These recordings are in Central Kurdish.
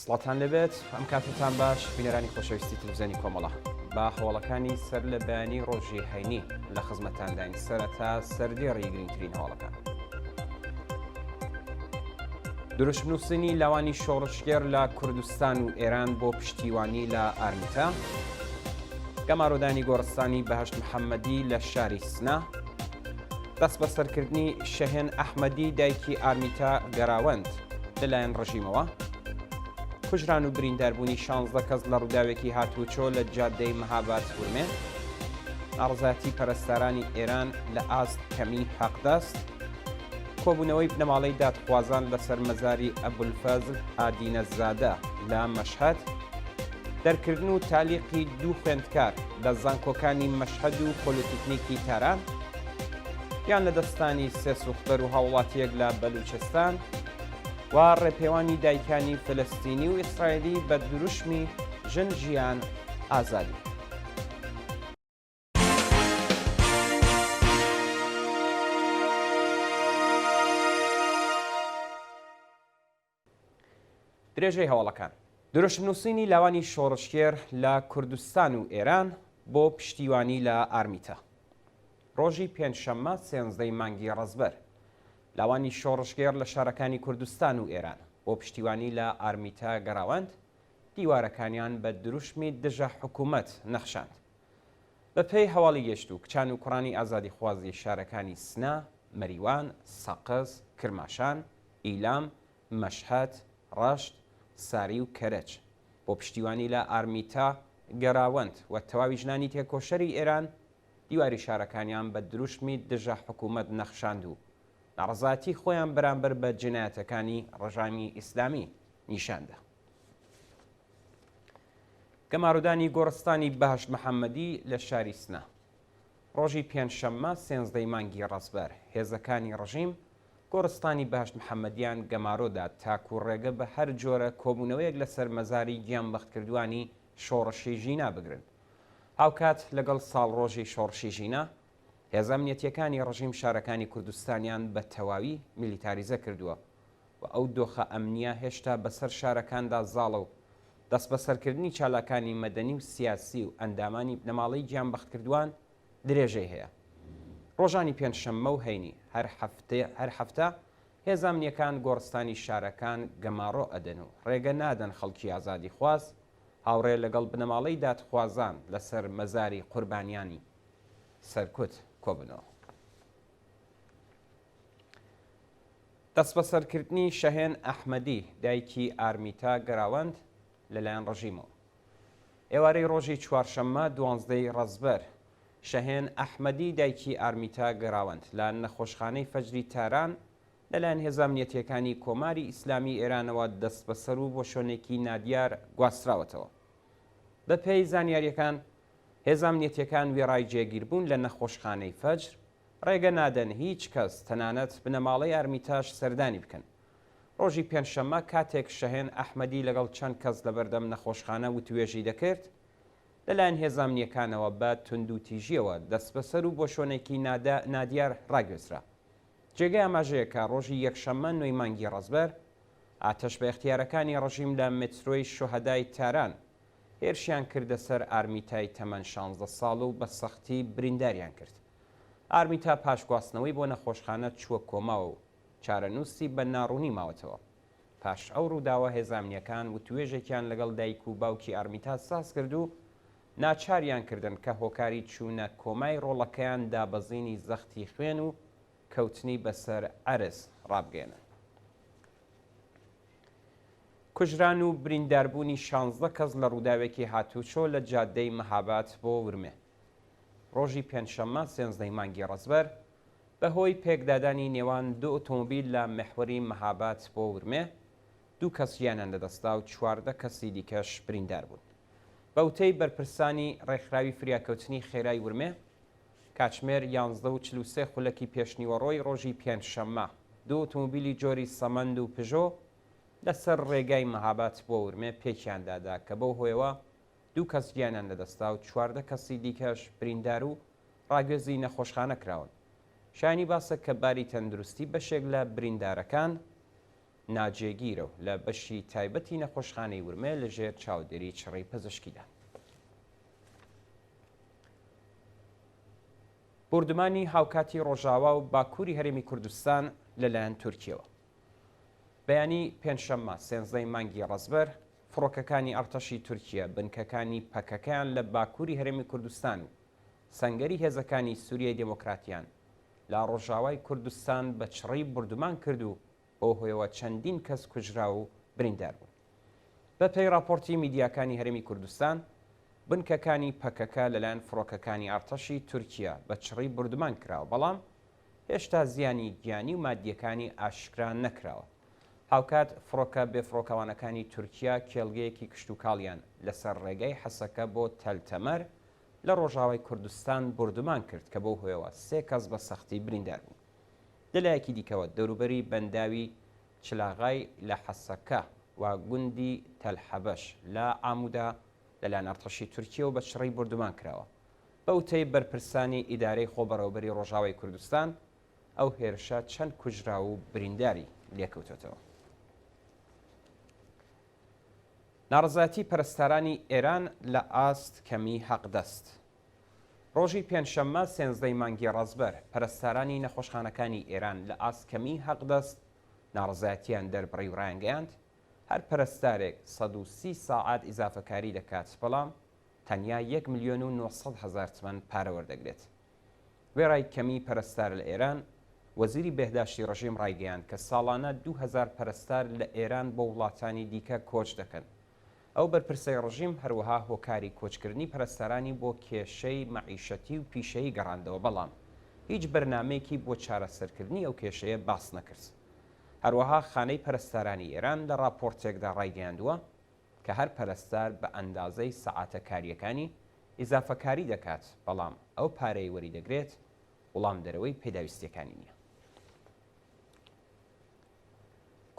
سڵاتان لێبێت ئەم کاتەتان باش بینەرانی خۆشەویستی تلوزیۆنی کۆمەڵە با هەواڵەکانی سەر لە بەیانی ڕۆژی هەینی لە خزمەتانداین سەرەتا سەردێڕی گرنگترین هەواڵەکان دروشمنووسنی لاوانی شۆڕشگێر لە کوردستان و ئێران بۆ پشتیوانی لە ئارمیتا گەمارۆدانی گۆڕستانی بەهشت محەممەدی لە شاری سنا دەست بەسەرکردنی شەهێن ئەحمەدی دایکی ئارمیتا گەراوەند لەلایەن ڕژیمەوە کوژران و برینداربوونی شانزدە کەس لە ڕووداوێکی هاتوچۆ لە جادەی مەهاباد فورمێ ناڕزاتی پەرستارانی ئێران لە ئاست کەمی حەقدەست کۆبوونەوەی بنەماڵەی دادخوازان لەسەر مەزاری ئەبولفەزل ئادینە زادە لە مەشهد دەرکردن و تالیقی دوو خوێندکار لە زانکۆکانی مەشهد و پۆلیتکنیکی تاران یان لە دەستدانی سێ سوختەر و هاوڵاتییەک لە بەلووچستان و ڕێپێوانی دایکانی فلستینی و ئیسرائیلی بە دروشمی ژن ژیان ئازادی. درێژەی هەواڵەکان دروشم نووسینی لاوانی شۆڕشگێر لە کوردستان و ئێران بۆ پشتیوانی لە ئارمیتا ڕۆژی پێنجشەممە سێنزدەی مانگی ڕزبەر لاوانی شۆڕشگێر لە شارەکانی کوردستان و ئێران بۆ پشتیوانی لە ئارمیتا گەڕاوند دیوارەکانیان بە دروشمی دژە حکوومەت نەخشاند بەپێی هەواڵی گەشت و کچان و کوڕانی ئازادی خوازی شارەکانی سنا مەریوان سەقز کرماشان ئیلام، مەشهەد، ڕەشت، ساری و کەرەج، بۆ پشتیوانی لە ئارمیتا گەراوەند و تەواوی ژنانی تێکۆشەری ئێران دیواری شارەکانیان بە دروشمی دژە حکوومەت نەخشاند و ناڕەزایەتی خۆیان بەرامبەر بە جینایەتەکانی ڕژامی ئیسلامی نیشان دا. گەمارۆدانی گۆڕستانی بەهەشت محەممەدی لە شاری سنە ڕۆژی پێنجشەممە سێنزدەی مانگی ڕەزبەر، هێزەکانی ڕژیم گۆڕستانی بەهەشت محەمەدیان گەمارۆدا تاکوو ڕێگە بە هەر جۆرە کۆبوونەوەیەک لەسەر مەزاری گیانبەختکردووانی شۆڕشی ژینا بگرن. هاوکات لەگەڵ ساڵڕۆژی شۆڕشی ژینا، هێزە ئەمنیەتییەکانی ڕژیم شارەکانی کوردستانیان بە تەواوی میلیتاریزە کردووە و ئەو دۆخە ئەمنییە هێشتا بەسەر شارەکاندا زاڵە و دەستبەسەرکردنی چالاکانی مەدەنی و سیاسی و ئەندامانی بنەماڵەی گیانبەختکردووان درێژەی هەیە. ڕۆژانی پێنجشەممە و هەینی هەر هەفتە هەر هەفتە هێزە ئەمنییەکان گۆڕستانی شارەکان گەماڕۆ ئەدەن و ڕێگە نادەن خەڵکی ئازادیخواز هاوڕێ لەگەڵ بنەماڵەی دادخوازان لەسەر مەزاری قوربانیانی سەرکوت کۆببنەوە. دەستبەسەرکردنی شەهێن ئەحمەدی دایکی ئارمیتا گەرالاند لەلایەن ڕژیمەوە ئێوارەی ڕۆژی چوارشەممە دوانزدە ی ڕەزبەر، شەهێن ئەحمەدی دایکی ئارمیتا گەرالاند لە نەخۆشخانەی فەجری تاران لەلایەن هێزە ئەمنیەتیەکانی کۆماری ئیسلامی ئێرانەوە دەستبەسەر و بۆ شۆنێکی نادیار گواستراوەتەوە. بەپێی زانیاریەکان، هێزە ئەمنیەتیەکان وێڕای جێگیربوون لە نەخۆشخانەی فەجر، ڕێگە نادەن هیچ کەس تەنانەت بنەماڵەی ئارمیتاش سەردانی بکەن. ڕۆژی پێنجشەممە کاتێک شەهێن ئەحمەدی لەگەڵ چەند کەس لەبەردەم نەخۆشخانە وتووێژی دەکرد، لەلایەن هێزە ئەمنییەکانەوە بە توندوتیژییەوە دەستبەسەر و بۆشۆنێکی نادیار ڕاگوێزرا. جێگەی ئاماژەیە کە ڕۆژی یەکشەممە نۆی مانگی ڕەزبەر، ئاتەش بە ئیختیارەکانی ڕژیم لە مترۆی شوهەدای تاران، هێرشیان کردە سەر ئارمیتای تەمەن شانزدە ساڵ و بە سەختی برینداریان کرد. ئارمیتا پاش گواستنەوەی بۆ نەخۆشخانە چووە کۆماوە و چارەنووسی بە ناڕوونی ماوەتەوە. پاش ئەو رووداوە هێزە ئەمنییەکان وتووێژێکیان لەگەڵ دایک و باوکی ئارمیتا ساز کرد و ناچاریان کردن کە هۆکاری چوونە کۆمای رۆڵەکەیان دابەزینی زەختی خوێن و کەوتنی بەسەر عەرز رابگەیەنن. کوژران و برینداربوونی شانزدە کەس لە ڕووداوێکی هاتووچۆ لە جادەی مەهاباد بۆ ورمێ ڕۆژی پێنجشەممە سێنزدە ی مانگی ڕەزبەر بەهۆی پێکدادانی نێوان دوو ئۆتۆمبیل لە مێحوەری مەهاباد بۆ ورمێ دوو کەس گیانیان لەدەستدا و چواردە کەسی دیکەش بریندار بوون. بە وتەی بەرپرسانی ڕێکخراوی فریاکەوتنی خێرای ورمێ، کاتژمێر یانزدە و چل و سێ خولەکی پێشنیوەڕۆی ڕۆژی پێنجشەممە، دوو ئوتومبیلی جۆری سەمەند و پژۆ لەسەر ڕێگای مەهاباد بۆ ورمێ پێکیان دادا کە بەو هۆیەوە دوو کەس گیانیان لەدەستدا و چواردە کەسی دیکەش بریندار و ڕاگوێزی نەخۆشخانە کراون. شایانی باسە کە باری تەندروستی بەشێک لە بریندارەکان، ناجێگیرە و لە بەشی تایبەتی نەخۆشخانەی ورمێ لە ژێر چاودێری چڕی پزیشکیدا. بوردمانی هاوکاتی ڕۆژاوا و باکووری هەرێمی کوردستان لەلایەن تورکیەوە. بەیانی پێنجشەممە سێنزدەی مانگی ڕزبەر فڕۆکەکانی ئەرتەشی تورکیە بنکەکانی پەکەکەیان لە باکووری هەرێمی کوردستان و سەنگەری هێزەکانی سووریای دێموکراتیان لە ڕۆژاوای کوردستان بە چڕی بوردمان کرد و بەو هۆیەوە چەندین کەس کوژرا و بریندار بوون. بە پێی ڕاپۆڕتی میدیاکانی هەرێمی کوردستان، بنکەکانی پەکەکە لەلایەن فڕۆکەکانی ئەڕتەشی تورکیا بە چڕی بوردمان کراوە، بەڵام هێشتا زیانی گیانی و ماددیەکانی ئاشکرا نەکراوە. هاوکات فڕۆکە بێفڕۆکەوانەکانی تورکیا کێڵگەیەکی کشتوکاڵیان لەسەر ڕێگای حەسەکە بۆ تەل تەمەر لە ڕۆژاوای کوردستان بوردمان کرد کە بەو هۆیەوە سێ کەس بە سەختی بریندار بوون. لە لایەکی دیکەوە، دەوروبەری بەنداوی چلاغای لە حەسەکە و گوندی تەل حەبەش لە عامودا لەلایەن ئەرتەشی تورکییەوە بە چڕی بۆردومان کراوە. بە وتەی بەرپرسانی ئیدارەی خۆبەڕێوەبەری ڕۆژاوای کوردستان، ئەو هێرشە چەند کوژراو و برینداری لێکەوتۆتەوە. ناڕەزایەتی پەرستارانی ئێران لە ئاست کەمی هەقدەست. ڕۆژی پێنجشەممە سێنزدەی مانگی ڕەزبەر، پەرستارانی نەخۆشخانەکانی ئێران لە ئاست کەمیی حەقدەست ناڕەزایەتییان دەربڕی و ڕایانگەیاند، هەر پەرستارێک سەد و سی سەعات ئیزافەکاری دەکات، بەڵام تەنیا یەک ملیۆن و نۆ سەد هەزار تمەن پارە وەردەگرێت. وێڕای کەمیی پەرستار لە ئێران، وەزیری بێهداشتی ڕژیم ڕایگەیاند کە ساڵانە دوو هەزار پەرستار لە ئێران بۆ وڵاتانی دیکە کۆچ دەکەن. ئەو بەرپرسەی ڕژیم هەروەها هۆکاری کۆچکردنی پەرستارانی بۆ کێشەی مەعیشەتی و پیشەیی گەڕاندەوە بەڵام هیچ بەرنامەیەکی بۆ چارەسەرکردنی ئەو کێشەیە باس نەکرد. هەروەها خانەی پەرستارانی ئێران لە ڕاپۆرتێکدا ڕایگەیاندووە کە هەر پەرستار بە ئەندازەی سەعاتە کارییەکانی ئیزافەکاری دەکات بەڵام ئەو پارەی وەریدەگرێت وڵامدەرەوەی پێداویستییەکانی نییە.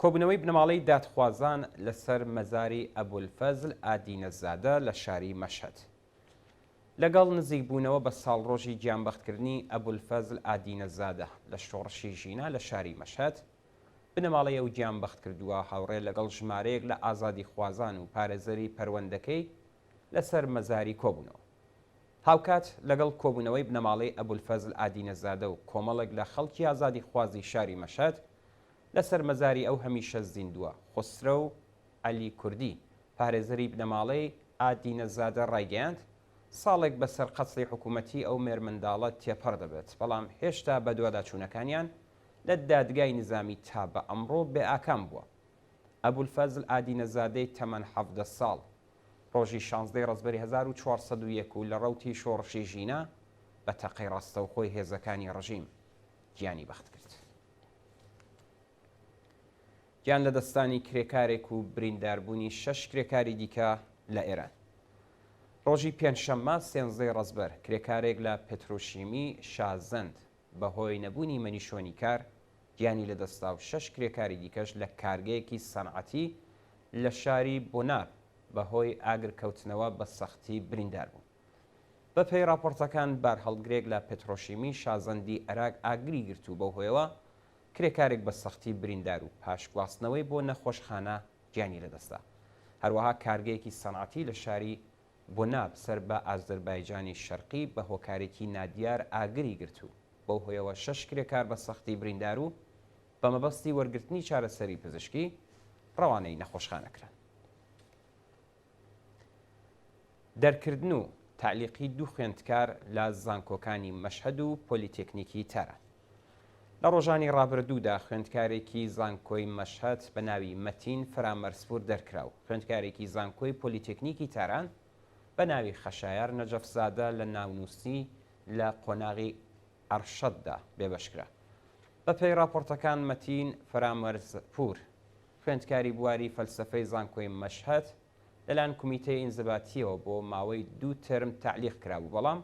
کۆبوونەوەی بنەماڵەی دادخوازان لەسەر مەزاری ئەبولفەزل ئادینەزادە لە شاری مەشهەد. لەگەڵ نزیکبوونەوە بە ساڵڕۆژی گیانبەختکردنی ئەبولفەزل ئادینەزادە لە شۆڕشی ژینا لە شاری مەشهەد، بنەماڵەی ئەو گیانبەختکردووە هاوڕێ لەگەڵ ژمارەیەک لە ئازادیخوازان و پارێزەری پەروەندەکەی لەسەر مەزاری کۆبوونەوە. هاوکات لەگەڵ کۆبوونەوەی بنەماڵەی ئەبولفەزل ئادینەزادە و کۆمەڵێک لە خەڵکی ئازادیخوازی شاری مەشهەد لەسەر مەزاری ئەو هەمیشە زیندووە، خوسرەو عەلی کوردی، پارێزەری بنەماڵەی ئادینەزادە ڕایگەیاند، ساڵێک بەسەر قەتڵی حکوومەتی ئەو مێرمنداڵە تێپەڕ دەبێت، بەڵام هێشتا بەدواداچوونەکانیان لە دادگای نیزامی تا بە ئەمڕۆ بێئاکام بووە. ئەبولفەزل ئادینەزادەی تەمەن حەڤدە ساڵ، ڕۆژی شانزدە ی ڕەزبەری هەزار و چوار سەد و یەک و لە ڕەوتی شۆڕشی ژینا بە تەقەی ڕاستەوخۆی هێزەکانی ڕژیم گیانی بەخت کرد. گیان لە دەستانی کرێکارێک و برینداربوونی شەش کرێکاری دیکە لە ئێران. ڕۆژی پێنجشەممە سێنزدەی ڕەزبەر کرێکارێک لە پتروشیمی شازەند بەهۆی نەبوونی مەنیشۆنی کار، گیانی لەدەستدا و شەش کرێکاری دیکەش لە کارگەیەکی سەنعەتی لە شاری بوناب بەهۆی ئاگرکەوتنەوە بە سەختی برینداربوون. بەپێی راپۆرتەکان، بارهەڵگرێک لە پترۆشیمی شازەندی ئەراک ئاگری گرت و بەو هۆیەوە کرێکارێک بە سەختی بریندار و پاش گواستنەوەی بۆ نەخۆشخانە گیانی لەدەستدا. هەروەها کارگەیەکی سەنعەتی لە شاری بوناب سەر بە ئازەربایجانی شەرقی بە هۆکارێکی نادیار ئاگری گرت و بەو هۆیەوە شەش کرێکار بە سەختی بریندار و بە مەبەستی وەرگرتنی چارەسەری پزیشکی ڕەوانەی نەخۆشخانە کران. دەرکردن و تەعلیقی دوو خوێندکار لە زانکۆکانی مەشهەد و پۆلیتێکنیکی تاران. لە ڕۆژانی ڕابردوودا خوێندکارێکی زانکۆی مەشهەد بە ناوی مەتین فەرامەرزپوور دەرکرا و خوێندکارێکی زانکۆی پۆلیتەکنیکی تاران بە ناوی خەشایار نەجەفزادە لە ناونووسی لە قۆناغی ئەرشەددا بێبەشکرا. بەپێی ڕاپۆرتەکان مەتین فەرامەرزپوور خوێندکاری بواری فەلسەفەی زانکۆی مەشهەد، لەلایەن کومیتەی ئینزباتییەوە بۆ ماوەی دوو تەرم تەعلیق کرابوو، بەڵام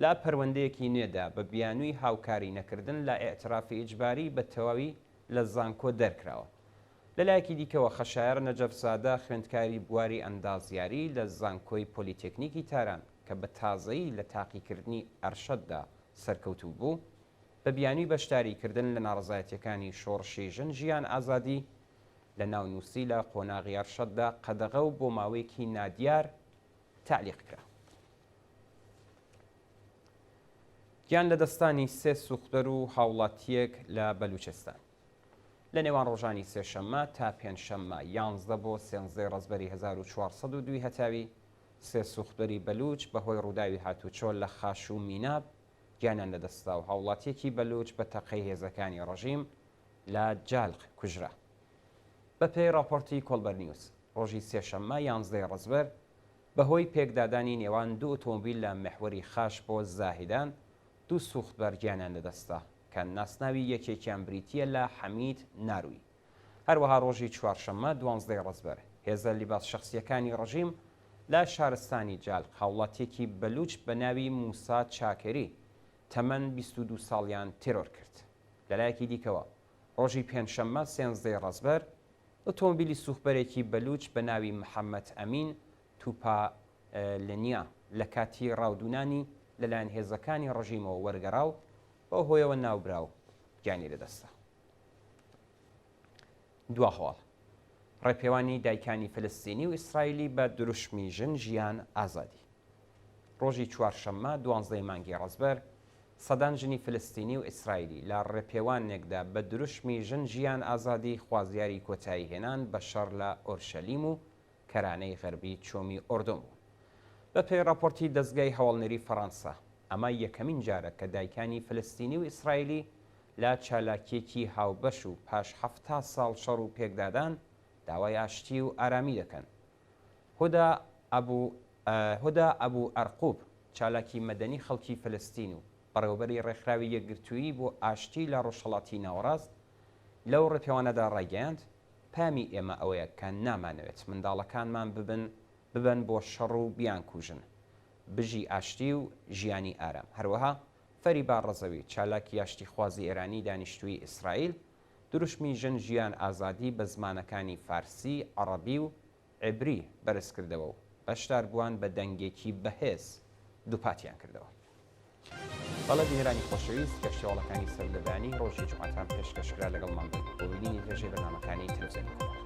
لە پەروەندەیەکی نوێدا بە بیانووی هاوکاری نەکردن لە ئیعترافی ئیجباری بە تەواوی لە زانکۆ دەرکراوە. لە لایەکی دیکەوە خەشایار نەجەفزادە خوێندکاری بواری ئەندازیاری لە زانکۆی پۆلیتەکنیکی تاران کە بە تازەیی لە تاقیکردنی ئەرشەددا سەرکەوتوو بوو، بە بیانووی بەشداریکردن لە ناڕەزایەتییەکانی شۆڕشی ژن ژیان ئازادی، لە ناو نووسی لە قۆناغی ئەرشەددا قەدەغە و بۆ ماوەیەکی نادیار تەعلیق کرا. گیان لە دەستانی سێ سوختدەر و هاوڵاتیەک لە بەلوچستان. لە نێوان ڕۆژانی سێشەممە تا پێنجشەممە یانزدە بۆ سێنزدەی ڕزبەری 1402 هەتاوی سێ سوختدەری بەلوچ بەهۆی ڕووداوی هاتوچۆ لە خاش و میناب گیانیان لەدەستدا و هاوڵاتییەکی بەلووچ بە تەقەی هێزەکانی ڕژیم لە جالق کوژرا. بەپێی ڕاپۆرتی کۆڵبەرنیوز، ڕۆژی سێشەممە یانزدەی ڕەزبەر بەهۆی پێکدادانی نێوان دوو ئۆتۆمبیل لە مێحوەری خاش بۆ زاهیدان، دوو سوختبەر گیانیان لەدەستدا کە ناسناوی یەکێکیان بریتییە لە حەمید ناروی. هەروەها ڕۆژی چوارشەممە دوانزدە ی ڕەزبەر، هێزە لیباس شەخسییەکانی ڕژیم لە شارستانی جالق هاوڵاتییەکی بەلووچ بە ناوی موسا چاکری تەمەن بیست و دوو ساڵیان تێرۆر کرد. لەلایەکی دیکەوە، ڕۆژی پێنجشەممە سێنزدە ی ڕەزبەر، ئۆتۆمبیلی سووخبەرێکی بەلووچ بە ناوی محەمەت ئەمین توپا لنیا لە کاتی ڕاودوونانی لەلایەن هێزەکانی ڕژیمەوە وەرگەڕا و بەو هۆیەوە ناوبراو گیانی لەدەستدا. دوا هەواڵ. ڕێپێوانی دایکانی فلستینی و ئیسرائیلی بە دروشمی ژن ژیان ئازادی. ڕۆژی چوارشەممە دوانزدەی مانگی ڕەزبەر سەدان ژنی فلستینی و ئیسرائیلی لە ڕێپێوانێکدا بە دروشمی ژن ژیان ئازادی خوازیاری کۆتایی هێنان بە شەڕ لە ئۆرشەلیم و کەرانەی غەربی چۆمی ئۆردۆن بوو بە پێی راپۆرتی دەستگای هەواڵنێری فەڕەنسا ئەمە یەکەمین جارە کە دایکانی فلستینی و ئیسرائیلی لە چالاکیەکی هاوبەش و پاش حەفتا ساڵ شەڕ و پێکدادان داوای ئاشتی و ئارامی دەکەن. هودا ئەبو هودا ئەبو ئەرقوب، چالاکی مەدەنی خەڵکی فەلەستین و بەڕێوەبەری ڕێکخراوی یەکگرتوویی بۆ ئاشتی لە ڕۆژهەڵاتی ناوەڕاست لەو ڕێپێوانەدا ڕایگەیاند، پامی ئێمە ئەوەیە کە نامانەوێت منداڵەکانمان ببن ببەن بۆ شەڕ و بیانکوژن. بژی ئاشتی و ژیانی ئارام. هەروەها فەریبا ڕەزەوی، چالاکی یاشتیخوازی ئێرانی دانیشتووی ئیسرائیل، دروشمی ژن ژیان ئازادی بە زمانەکانی فارسی، عەڕەبی و عیبری بەرزکردەوە و بەشداربووان بە دەنگێکی بەهێز دووپاتیان کردەوە. بەڵێ بینەرانی خۆشەویست، کەشتیواڵەکانی سەرلەبەیانیی ڕۆژی جومعەتان پێشکەشکرا، لەگەڵمان بن بۆ بینینی درێژەی بەرنامەکانی تەلەفزیۆنی کۆمەڵە.